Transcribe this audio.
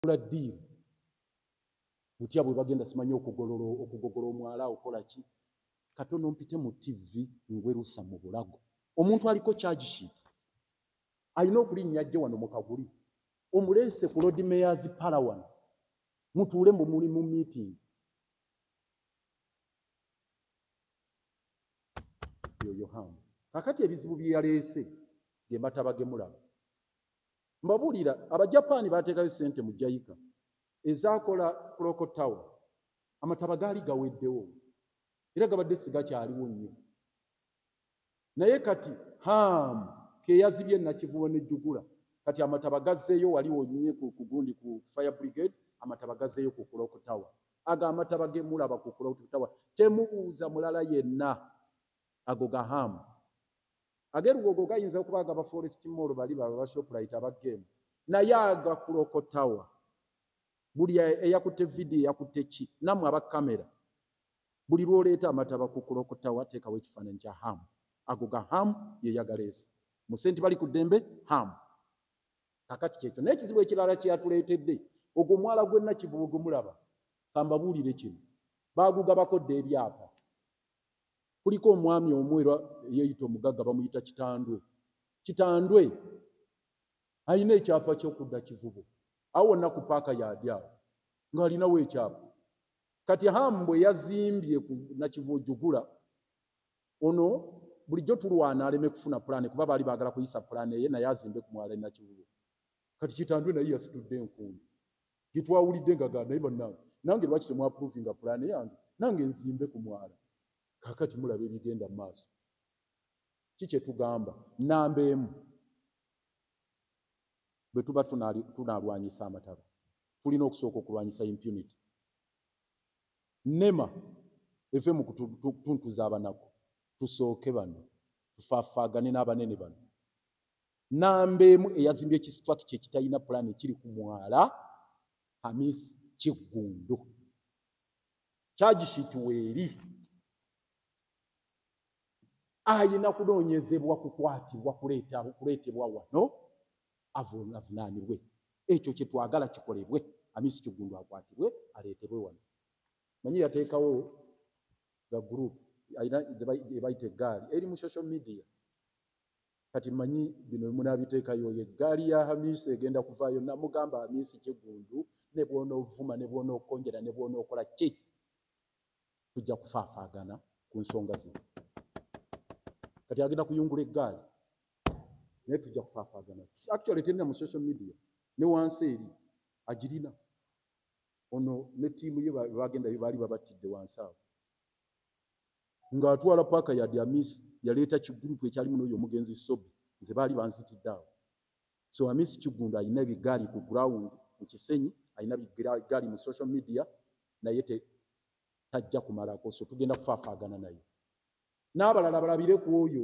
bakola deal butya bwe bagenda simanyi okugolola okugogola omwala okola ki katono mpite mu TV ngwerusa mu bulago omuntu aliko charge sheet alina okulinnya ajje wano mu kaguli omuleese ku lord mayors pala wano mutuule mu muli mu meeting yoyo hamu kakati ebizibu byeyaleese gematabagemulaba Mbabuulira, Abajapaani baateekayo ssente mu Jayika ezaakola Clock Tower. Amataba gaali gaweddewo era gabadde sigakyaliwo nnyo. Naye kati Ham ke yazibye Nakivubo ne Jugula, kati amataba gazzeeyo wali wonyinye ku gundi ku Fire Brigade, amataba gazzeeyo ku Clock Tower. Ago amataba ge mulaba ku Clock Tower temubuuza mulala yenna, ago ga Ham. Age lugogo gayinza okuba agaba forest mall bali baba ba shoprite aba game naye aga kulokotawa buli eyakutte video eyakutte ki namwe aba kamera buli lwoleeta amataba ku kulokotawa teekawo ekifaananyi kya hamu ago ga hamu yeyagaleesa musenti bali ku ddembe hamu kakati kyekyo naye ekizibu ekirala kyeyatuleetedde ogwo omwala gwenna kivubu gumulaba kambabuulire kino baagugabakodda ebyapa kuliko omwami omu era eyeyita omugagga bamuyita kitandwe kitandwe alina ekyapa kyokudda kivubo awo wonna ku paaka yadi awo ng'alinawo ekyapa kati hamu bwe yazimbye ku nakivubo jugula ono bulijjo tulwana aleme kufuna pulaani kuba baali baagala kuyisa pulaani eye naye azimbe ku mwala enakivubo kati kitandwe naye yasitudde enkuuno getwawulidde nga gaa naye bannange nange lwaki temwapuruvinga pulaani yange nange nzimbe ku mwala kakati mulaba ebigenda mu maaso ki kyetugamba namba emu bwe tuba tunalwanyisa amataba tulina okusooka okulwanyisa impunity nema eve mu kutuntuza abanaku tusooke bano tufafaagane n'abanene bano namba emu eyazimbye ekisitrakiti ekitalina pulaani ekiri ku mwala hamis kiggundu kyagisiiti weeri ayina kunoonyezebwa kukwatibwa kuleetebwa wano avunaanibwe ekyo kye twagala kikolebwe amisi kiggundu akwatibwe aleetebwe wano manyi yateekawo ga gurupu ebayita eggaali eri mu social media kati manyi bino munabitekayo oyo eggaali ya hamisi egenda kuvaayo namugamba hamisi kigundu ne bwonovuma ne bwonokonjera ne bwonokola ki tujja kufaafaagana ku nsonga zino kati agenda kuyungula eggaali naye tujja kufaafaagana actually terina mu social media ne wansi eri agirina ono ne tiimu ye bagendayo baali babattidde wansi awo ng'atwala paaka ya Diamis yaleeta kigurupu ekyalimu n'oyo omugenzi Sobi nze baali banzitidde awo so Amis Kiggundu alina ebigaali ku ground mu Kisenyi alina bigaali mu social media naye te tajja kumalako so tugenda kufaafaagana naye n'abalala balabire ku oyo